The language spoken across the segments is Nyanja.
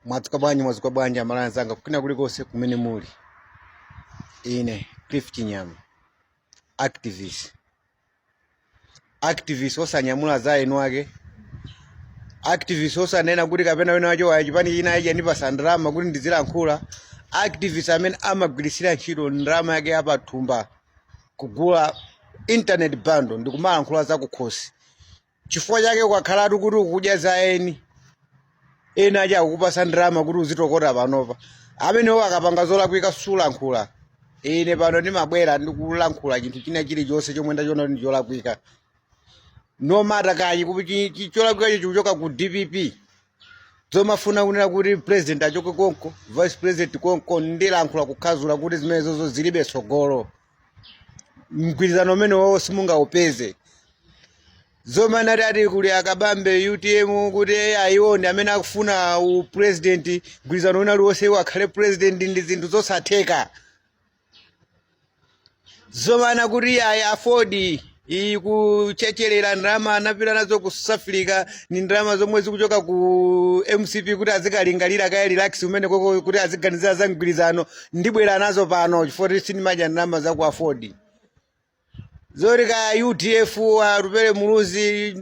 mwadzuka bwanji mwadzuka bwanji amalawi anzanga kwina kulikonse kumene muli ine cliff chinyama activist activist osanyamula za eni ake activist osanena kuti kapena wina wa cha wa chipani china achita kundipasa ndalama kuti ndizilankhula activist amene amagwiritsira ntchito ndalama yake ya m'thumba kugula internet bundle ndi kumalankhula za kukhosi chifukwa chake ukakhalatu kuti ukudya za eni ena ake akukupasa ndalama kuti uzitokota panopa amenewo akapanga zolakwika sulankhula ine pano ndimabwera ndikulankhula chinthu china chilichonse chomwe ndachiona kuti ndicholakwika no matter kaya kuti chi- chi- cholakwikacho chikuchoka ku dpp zomafuna kunena kuti president achoke konko vice president konko ndilankhula kukhazula kuti zimenezozo zilibe tsogolo mgwirizano umene wawo simungaupeze zomanena kuti kuli akabambe utm kuti ayi iwo ndi amene akufuna upresident mgwirizano wina uliwonse iwo akhale president ndi zinthu zosatheka zomanena kuti ayi aford iyi kuchecherera ndalama anapita nazo ku south africa ndi ndalama zomwe zikuchoka ku mcp kuti azikalingalira akare-relax kumene koko kuti aziganizira za mgwirizano ndibwera nazo pano chifukwa kuti sindimadya ndalama za ku aford zoti kaya udf atupele muluzi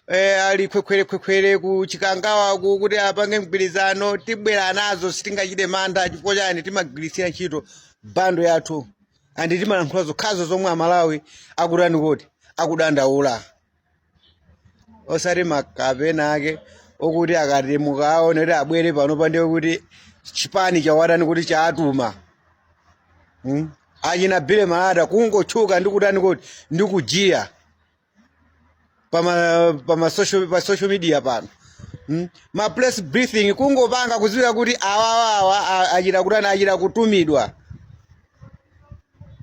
eh, ali khwekhwerekhwekhwere ku chikangawa uku kuti apange mgwirizano tibwera nazo sitingachite mantha chifukwa chani timagwiritsira ntchito bundle yathu and timalankhula zokhazo zomwe amalawi akutani kodi akudandaula osati makape ena ake okuti akati mukaona kuti abwere panopa ndiye kuti chipani chawatani kodi chaatuma hmm? achina bire malata kungotchuka ndi kutani kodi ndi kujiya pama pama social pa social media pano hmm? ma press briefing kungopanga kuziwika kuti awawawa achita kutani achita kutumidwa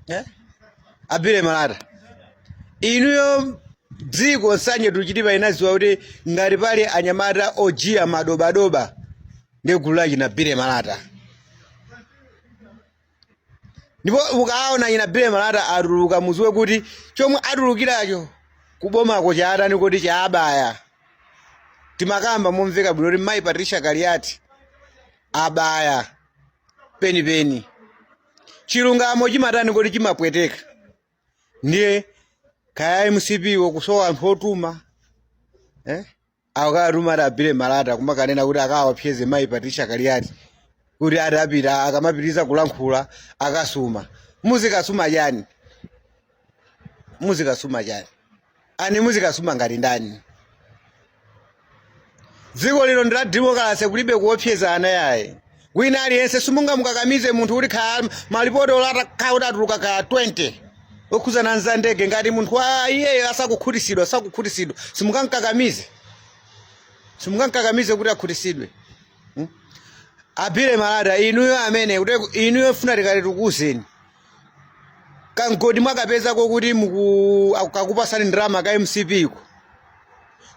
Eh? abire malata inuyo dziko nsanje tuchitipa inaziwa kuti ngati pali anyamata ojiya madobadoba ndi gulu la china bire malata ndipo ukawaona achina bire malata atuluka muziwe kuti chomwe atulukiracho kubomako chaatani kodi chaabaya timakamba momveka bwino kuti mayi patricia kaliati abaya penipeni chilungamo chimatani kodi chimapweteka ndiye kaya mcp wo kusowa anthu otuma eh? akatuma ati a billy malata kumakanena kuti akawaopseze mayi patricia kaliati kuti ati apita akamapitiriza kulankhula akasuma muzikasuma chani muzikasuma chani ani muzikasuma ngati ndani dziko lino ndi la demokalase kulibe kuopsezana yayi wina aliyense simungamukakamize munthu kuti kha malipoti olo atakhala kuti atuluka ka 20 okhuzana nza ndege ngati munthu wa iyeyo asakukhutisidwa asakukhutisidwa simungamkakamize simungamkakamize kuti akhutisidwe a billy malata inuyo amene kuti inuyo funa tikati tikuuzeni kamgodi mwakapezako kuti muku- aku- kakupasani ndalama ka mcp ko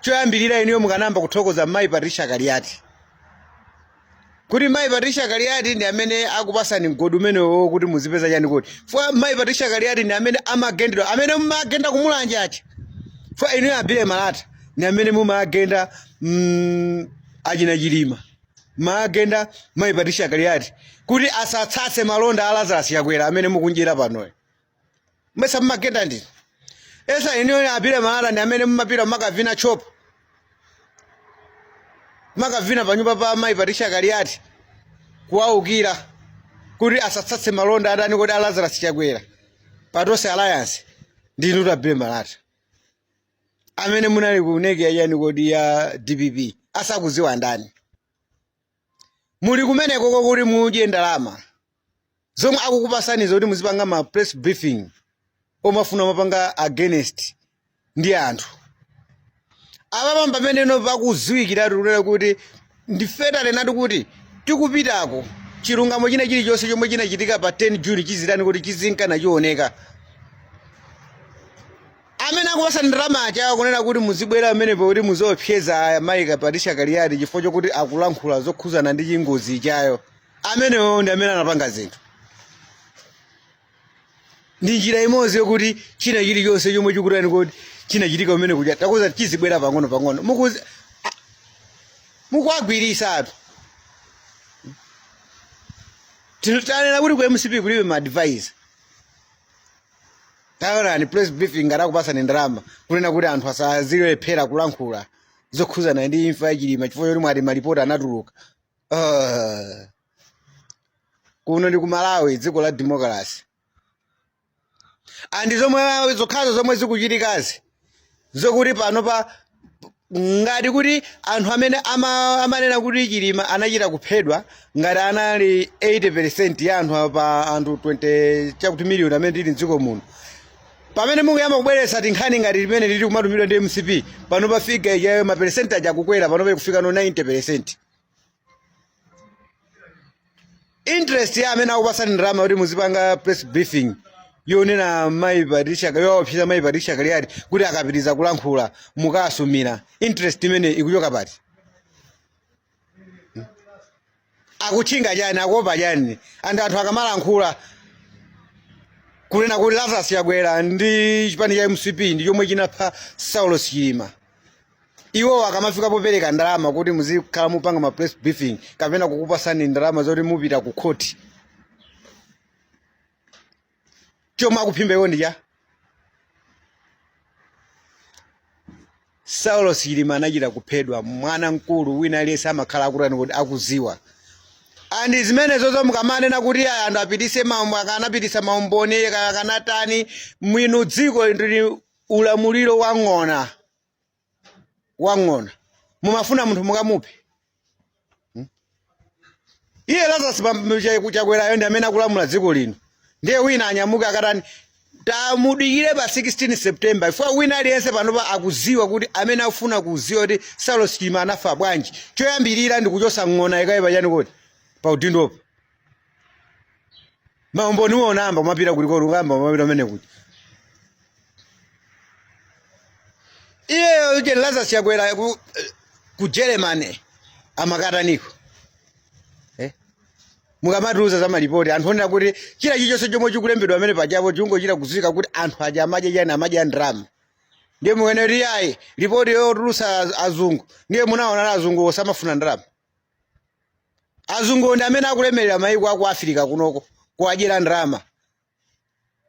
choyambirira inuyo mukanayamba kuthokoza mayi patricia kaliati kuti mayi patricia kaliati ndi amene akupasani mgodi umenewo kuti muzipeza chani kodi chifukwa mayi patricia kaliati ndi amene amagendedwa amene mumagenda ku mulanje aja chifukwa inuyo a billy malata ndi amene mumagenda mm, achina chilima magenda mayi patricia kaliati kuti asatsatse malonda a lazarus chakwera amene mukudyera panoyo mesa mmagenda ndinu mesa inuyo a billy malata ndi amene mmapita makavina tchopa makavina panyumba pa mayi patricia kaliati kuwaukira kuti asatsatse malonda a ndani kodi a lazarus chakwera pa tonse alliance ndinu a billy malata amene munali ku nec yachani kodi ya dpp asakuziwa ndani muli kumeneko kokuti mudye ndalama zomwe akukupasanizo kuti muzipanga ma press briefing omafuna mapanga against ndi anthu apapa pameneno pakuziwikiratu kunena kuti ndifetale nati kuti tikupitako chilungamo china chilichonse chomwe chinachitika pa 10 june chizitani kodi chizinka nachioneka Amene akupasani ndalama aja akunena kuti muzibwera pamenepo kuti muziopseza mayi Patricia Kaliati chifukwa chokuti akulankhula zokhuzana ndi chingozi ijayo. Amenewo ndi amene anapanga zinthu. Ndi njira imodzi yokuti china chilichonse chomwe chikutani kodi chinachitika kumene kuja takuza chizibwera pang'ono pang'ono. Mukuzi a- mukuwagwiritsa anthu. Tinu- Tanena kuti ku MCP kulibe ma advisor. taonani press briefing ngati akupasani ndalama kunena kuti anthu asazilephera kulankhula zokhuzana ndi imfa ya chilima chifukwa choti mwati malipoti anatuluka Ah. kuno ndi ku malawi dziko la democracy and zomwe zokhazo zomwe zikuchitikazi zokuti pano pa ngati kuti anthu amene ama- amanena kuti chilima anachita kuphedwa ngati anali 80 ya anthu pa anthu 20 chakuti miliyoni amene tili mdziko muno pamene mukuyamba kubweretsa tinkhani ngati limene lili kumatumidwa ndi mcp pano pafika ijayo maperesenti aja akukwera pano pali kufika no 90 peresenti interest ya amene akupasani ndalama kuti muzipanga press briefing yonena mayi patricia kaliati yowopseza mayi patricia kaliati kuti akapitiriza kulankhula mukasumira interest imene ikuchoka pati Hmm? akutchinga chani akuopa chani and anthu akamalankhula kunena kuti lazarus chakwera ndi chipani cha mcp ndi chomwe chinapha saulos chilima iwowo akamafika popereka ndalama kuti muzikhala mupanga ma press briefing kapena kukupasani ndalama zoti mupita ku khoti chomwe akuphimba iwo ndi chani saulos chilima anachita kuphedwa mwana mkulu wina aliyense amakhala akutani kuti akuziwa and zimenezozo mukamanena kuti ayi anthu apitise maumboni akanapitisa maumboni akanatani mwini dziko lili ulamuliro wa ng'ona wang'ona mumafuna munthu mukamuphe hmm? iye lazarus chakwerayo ndi amene akulamula dziko lino ndiye wina anyamuke akatani tamudikire pa 16 september chifukwa wina aliyense panopa akuziwa kuti amene afuna kuziwa kuti saulos chilima anafa bwanji choyambirira ndi kuchosa ng'ona ikaye pachani kodi pa udindopo maumboni uwo ungayambe kumapita kuli komwe ungayambe kumapita amene kuti iyeyo uje lazarus chakwera ku, ku germany amakataniko eh? mukamatiuza za malipoti anthu oona kuti china chilichonse chomwe chikulembedwa amene pachapo chingochita kuziwika kuti anthu aja amadya chani amadya ndrama ndiye mukunena kuti ayi lipoti yotulusa azungu ndiye munawaona azungu osamafuna ndrama azungu ndi amene akulemerera maiko aku afirika kunoko kuwadyera ndalama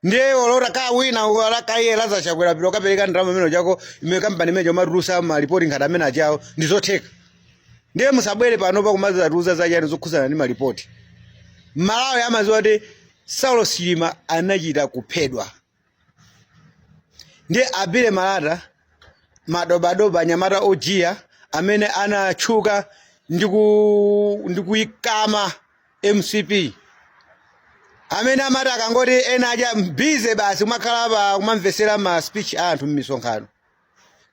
ndiye olota ka wina olo kaya lazarus chakwera piro kapereka ndalama imene chako imene kampani imene yomatulusa malipoti ngati amene achawo ndi zotheka ndiye musabwere panopa kumazatiuza zachani zokhuzana ndi malipoti malawi amaziwa kuti saulos chilima anachita kuphedwa ndiye abile malata madobadoba anyamata ojiya amene anatchuka ndi ku- ndi kuyikamwa mcp amene amati akangoti ena aja bize basi kumakhala pa kumamvetsera ma speech a anthu m'misonkhano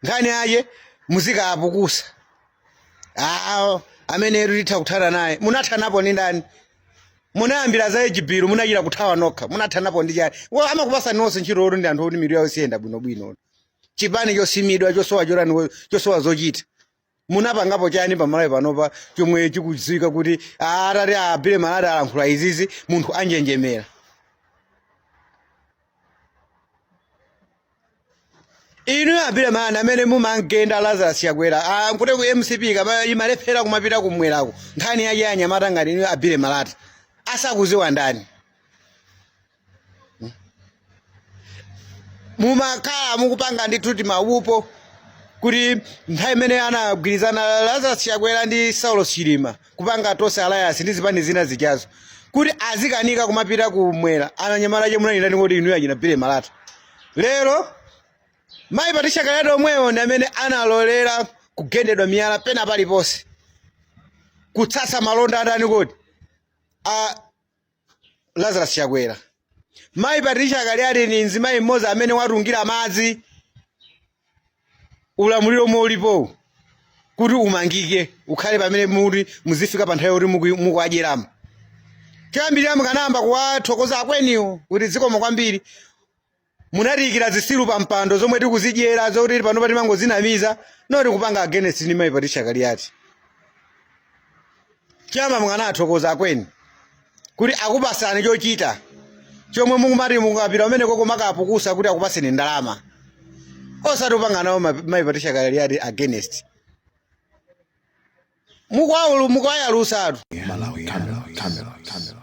nkhani yache muzikapukusa awo amene ati titha kuthana naye munathanapo ndi ndani munayambira za Age Bill munachita kuthawa nokha munathanapo ndi chani amakupasani nonse ntchito oti ndi anthu oti mitu yawo siyenda bwinobwino chipani chosimidwa chosowa chotani chosowa zochita munapangapo chani pa Malawi panopa chomwe chikudziwika kuti atati a Billy Malata alankhula izizi munthu anjenjemera inuyo a Billy Malata amene mumangenda lazarus chakwera kuti ku mcp kama imalephera kumapita kumwerako nkhani yache anyamata ngati inuyo a Billy Malata asakuziwa ndani mumakhala mukupanga ndithu timagulupu kuti nthawi imene anagwirizana lazarus chakwera ndi Saulos chilima kupanga tonse alliance ndi zipani zina zijazo kuti azikanika kumapita kumwera ananyamala che munanena ndi inuyo achina Billy Malata lero mayi patricia Kaliati omwewo ndi amene analolera kugendedwa miyala pena paliponse kutsatsa malonda a ndani kodi a Lazarus Chakwera. Mayi Patricia Kaliati ni mzimayi mmodzi amene watungira madzi ulamuliro omwe ulipowu kuti umangike ukhale pamene muli muzifika pa nthawi yoti mukuwadyeramo. Choyambirira mukanayamba kuwathokoza akweniwo kuti zikomo kwambiri Munatiikira zisiru pa mpando zomwe tikuzidyera zoti panopa timangozinamiza not kupanga against ndi Mayi Patricia Kaliati. Chamba mukanathokoza akweniwo kuti akupasani chochita chomwe mukumati mukapita umene uko kumakapukusa kuti akupaseni ndalama osati kupanga nawo ma- Mayi Patricia Kaliati against mukwaulu mukwayalusa atu Malawi, Cameron, Cameron, Cameron.